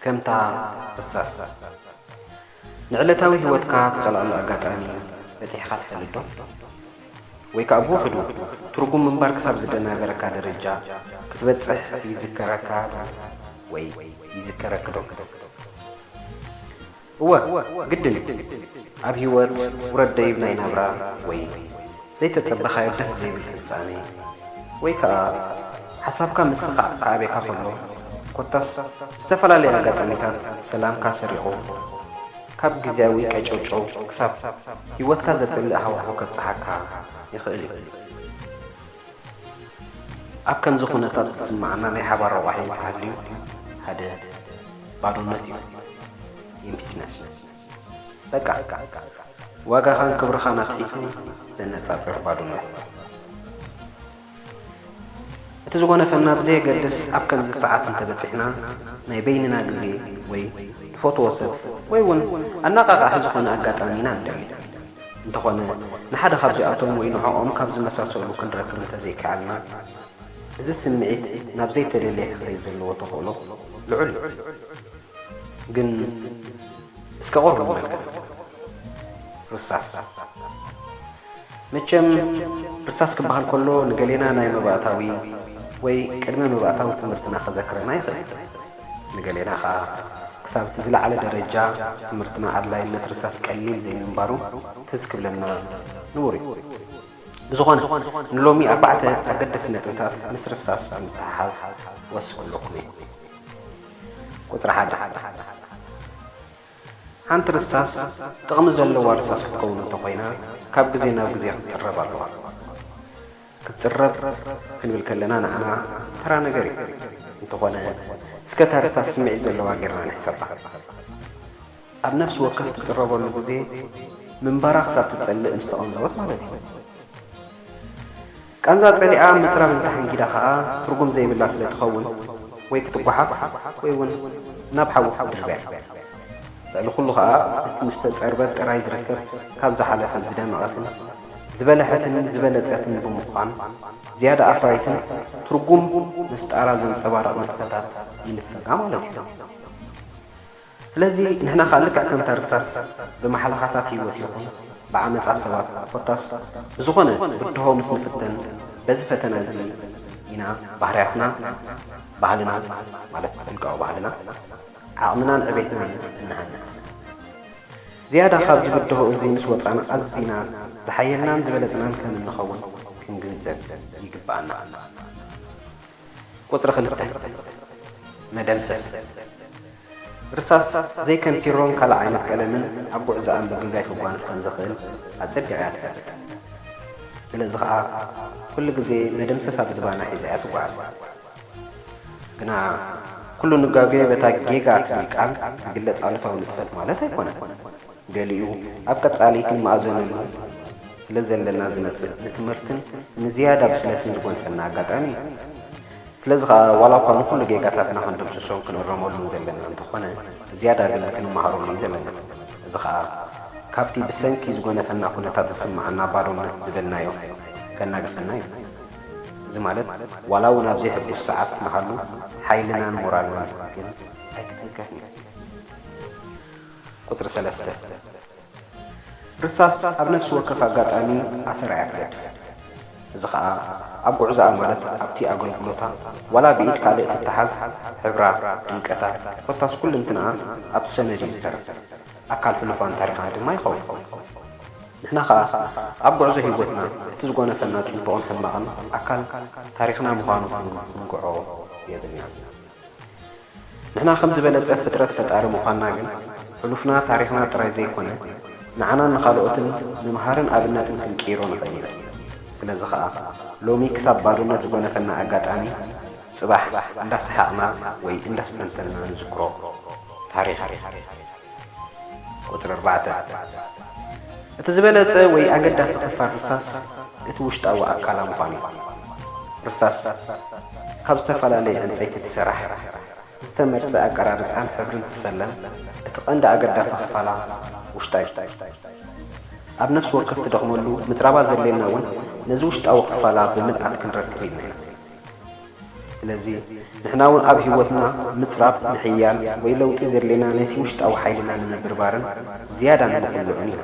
ከምታ እሳስ ንዕለታዊ ህይወትካ ትጸልኣሉ ኣጋጣሚ በጺሕካ ትፈልጥዶ? ወይ ከኣ ብውሕዱ ትርጉም ምንባር ክሳብ ዝደናገረካ ደረጃ ክትበጽሕ ይዝከረካዶ ወይ ይዝከረኪዶ? እወ ግድን እዩ ኣብ ሂወት ውረድ ደይብ ናይ ናብራ ወይ ዘይተጸበኻዮ ደስ ዘይብል ፍጻሜ ወይ ከኣ ሓሳብካ ምስኻዕ ክኣቤካ ከሎ ኮታስ ዝተፈላለየ ኣጋጣሚታት ሰላምካ ሰሪቑ ካብ ግዝያዊ ቀጨውጨው ክሳብ ሂወትካ ዘጽልእ ሃዋሁ ከብጽሓካ ይኽእል እዩ። ኣብ ከምዚ ኩነታት ዝስመዓና ናይ ሓባር ረቋሒ እንተሃልዩ ሓደ ባዶነት እዩ፣ Emptiness፣ በቃ ዋጋኻን ክብርኻን ኣትሒቱ ዘነጻጽር ባዶነት። እቲ ዝጎነፈና ብዘየገድስ ኣብ ከምዚ ሰዓት እንተበጺሕና ናይ በይንና ግዜ ወይ ንፈትዎ ሰብ ወይ ውን ኣነቓቓሒ ዝኾነ ኣጋጣሚ ኢና ንደሊ። እንተኾነ ንሓደ ካብዚኣቶም ወይ ንዕኦም ካብ ዝመሳሰሉ ክንረክብ እንተዘይከኣልና፣ እዚ ስምዒት ናብ ዘይተደልየ ክኸይድ ዘለዎ ተኽእሎ ልዑል እዩ። ግን እስከ ቁሩብ ንመልከት። ርሳስ። መቸም ርሳስ ክበሃል ከሎ ንገሌና ናይ መባእታዊ ወይ ቅድመ መባእታዊ ትምህርትና ከዘክረና ይኽእል እዩ። ንገሌና ከኣ ክሳብ እቲ ዝለዓለ ደረጃ ትምህርትና ኣድላይነት ርሳስ ቀሊል ዘይምንባሩ ትዝ ክብለና ንቡር እዩ። ብዝኾነ ንሎሚ ኣርባዕተ ኣገደስቲ ነጥብታት ምስ ርሳስ ብምትሕሓዝ ክወስኽ ክብለኩም እየ። ቁጽሪ ሓደ። ሓንቲ ርሳስ ጥቕሚ ዘለዋ ርሳስ ክትከውን እንተኾይና ካብ ግዜ ናብ ግዜ ክትጽረብ ኣለዋ። ክትጽረብ ክንብል ከለና ንዓና ተራ ነገር እዩ። እንተኾነ እስከ እታ ርሳስ ስምዒት ዘለዋ ጌርና ንሕሰባ። ኣብ ነፍሲ ወከፍ ትጽረበሉ ግዜ ምንባራ ክሳብ ትጸልእ ምስ ተቐንዘወት ማለት እዩ። ቃንዛ ጸሊኣ ምጽራር ዝተሓንጊዳ ከኣ ትርጉም ዘይብላ ስለ ትኸውን ወይ ክትጓሓፍ ወይ ውን ናብ ሓዊ ክትድርበያ እዩ። ልዕሊ ኩሉ ከኣ እቲ ምስ ተጸርበት ጥራይ ዝርከብ ካብ ዝሓለፈ ዝደመቐትን ዝበለሐትን ዝበለጸትን ብምዃን ዝያዳ ኣፍራይትን ትርጉም ምፍጣራ ዘንጸባርቕ ንጥፈታት ይንፈጋ ማለት እዩ። ስለዚ ንሕና ከኣ ልክዕ ከምታ ርሳስ ብማሕለኻታት ህይወት ይኹን ብዓመጻ ሰባት ኮታስ ብዝኾነ ብድሆ ምስ ንፍተን በዚ ፈተና እዚ ኢና ባህርያትና ባህልና ማለት ውልቃዊ ባህልና ዓቕምናን ዕቤትናን እንሃንጽ። ዝያዳ ካብዚ ብድሆ እዚ ምስ ወጻና ኣዚና ዝሓየልናን ዝበለጽናን ከም እንኸውን ክንግንዘብ ይግበኣና። ቁጽሪ ክልተ፣ መደምሰስ ርሳስ ዘይከምፒሮን ካልእ ዓይነት ቀለምን ኣብ ጉዕዞኣ ምጉይጋይ ከጓንፍ ከም ዘኽእል ኣጸቢቓ እያ ትፈልጥ። ስለዚ ኸኣ ኩሉ ግዜ መደምሰስ ኣብ ዝባና ሒዛ እያ ትጓዓዝ። ግና ኩሉ ንጋጉየ በታ ጌጋ እትብል ቃል ዝግለጽ ኣሉታዊ ንጥፈት ማለት ኣይኮነን። ገሊኡ ኣብ ቀጻሊ ክንመኣዘነሉ ስለ ዘለና ዝመጽእ ንትምህርትን ንዝያዳ ብስለትን ዝጎንጸና ኣጋጣሚ እዩ። ስለዚ ከኣ ዋላ እኳ ንኹሉ ጌጋታትና ክንድምስሶን ክንእረመሉን ዘለና እንተኾነ ዝያዳ ግን ክንመሃረሉ እዩ ዘለና። እዚ ከኣ ካብቲ ብሰንኪ ዝጎነፈና ኩነታት ዝስመዓና ባዶነት ዝበልናዮ ከናግፈና እዩ። እዚ ማለት ዋላ እውን ኣብ ዘይሕጉስ ሰዓት ንሃሉ ሓይልናን ሞራልናን ግን ኣይክትንከፍን እዩ። ቁጽሪ ሰለስተ፣ ርሳስ ኣብ ነፍሲ ወከፍ ኣጋጣሚ ኣሰር ኣያትገድፍ። እዚ ከኣ ኣብ ጉዕዞኣ ማለት ኣብቲ ኣገልግሎታ ዋላ ብኢድ ካልእ ትተሓዝ ሕብራ፣ ድምቀታ ኮታስ ኩልንትንኣ ኣብቲ ሰነድ እዩ ዝተርፍ። ኣካል ሕሉፋን ታሪኻን ድማ ይኸውን። ንሕና ከኣ ኣብ ጉዕዞ ህይወትና እቲ ዝጎነፈና ጽቡቕን ሕማቕን ኣካል ታሪኽና ምዃኑ ክንግዖ የብልናን። ንሕና ከም ዝበለጸ ፍጥረት ፈጣሪ ምዃንና ግን ሕሉፍና ታሪኽና ጥራይ ዘይኮነ ንዓናን ንኻልኦትን ምምሃርን ኣብነትን ክንቅይሮ ንኽእል ኢና። ስለዚ ኸኣ ሎሚ ክሳብ ባዶነት ዝጎነፈና ኣጋጣሚ ጽባሕ እንዳሰሓቕና ወይ እንዳስተንተንና ንዝክሮ ታሪኽ እዩ። ቁጽሪ ኣርባዕተ፣ እቲ ዝበለጸ ወይ ኣገዳሲ ክፋል ርሳስ እቲ ውሽጣዊ ኣካላ ምዃኑ እዩ። ርሳስ ካብ ዝተፈላለየ ዕንጸይቲ ትሰራሕ፣ ብዝተመርጸ ኣቀራርጻን ሕብርን ትሰለም፣ እቲ ቀንዲ ኣገዳሲ ክፋላ ውሽጣ እዩ። ኣብ ነፍሲ ወከፍ ትደኽመሉ ምጽራባ ዘድልየና እውን ነዚ ውሽጣዊ ክፋላ ብምልኣት ክንረክብ ኢልና ኢና። ስለዚ ንሕና ውን ኣብ ህይወትና ምጽራፍ፣ ምሕያል ወይ ለውጢ ዘድልየና ነቲ ውሽጣዊ ሓይልና ንምብርባርን ዝያዳ ንምዅልዑን እዩ።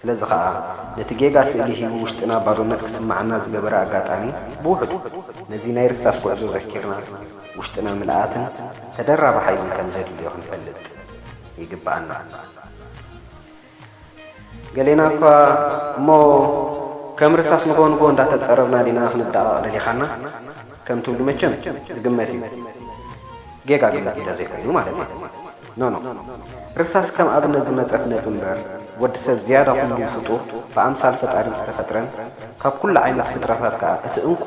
ስለዚ ኸኣ ነቲ ጌጋ ስእሊ ሂቡ ውሽጥና ባዶነት ክስምዓና ዝገበረ ኣጋጣሚ ብውሕዱ ነዚ ናይ ርሳስ ጕዕዞ ዘኪርና ውሽጥና ምልኣትን ተደራቢ ሓይልን ከም ዘድልዮ ክንፈልጥ ይግብኣና። ገሌና እኳ እሞ ከም ርሳስ ንጎንጎ እንዳተጸረብና ዲና ክንዳቓቕ ደሊኻና ከም ትብሉ መቸም ዝግመት እዩ። ጌጋ ግምት እንተ ዘይኮይኑ ማለተይ። ኖኖ። ርሳስ ከም ኣብነት ዝመጸት ነጥቢ እምበር ወዲ ሰብ ዝያዳ ኩሉ ፍጡር ብኣምሳል ፈጣሪ ዝተፈጥረን ካብ ኩሉ ዓይነት ፍጥረታት ከኣ እቲ እንኮ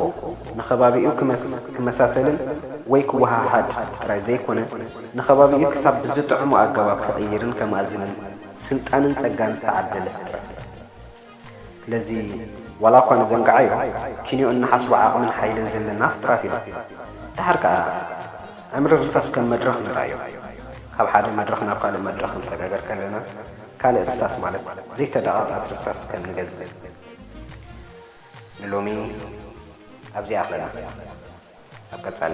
ንኸባቢኡ ክመሳሰልን ወይ ክወሃሃድ ጥራይ ዘይኮነ ንከባቢኡ ክሳብ ብዝጥዕሞ ኣገባብ ክቕይርን ከማእዝንን ስልጣንን ጸጋን ዝተዓደለ ፍጥረት እዩ። ስለዚ ዋላኳ ንዘንግዓዮ ኪንዮ እንሓስቦ ዓቕምን ሓይልን ዘለና ፍጡራት ኢና። ደሓር ከኣ ዕምሪ ርሳስ ከም መድረኽ ንርኣዮ። ካብ ሓደ መድረኽ ናብ ካልእ መድረኽ ክንሰጋገር ከለና ካልእ ርሳስ ማለት ዘይተደቓቐት ርሳስ ከም ንገዝእ ንሎሚ ኣብዚኣ ኣለና። ኣብ ቀጻሊ።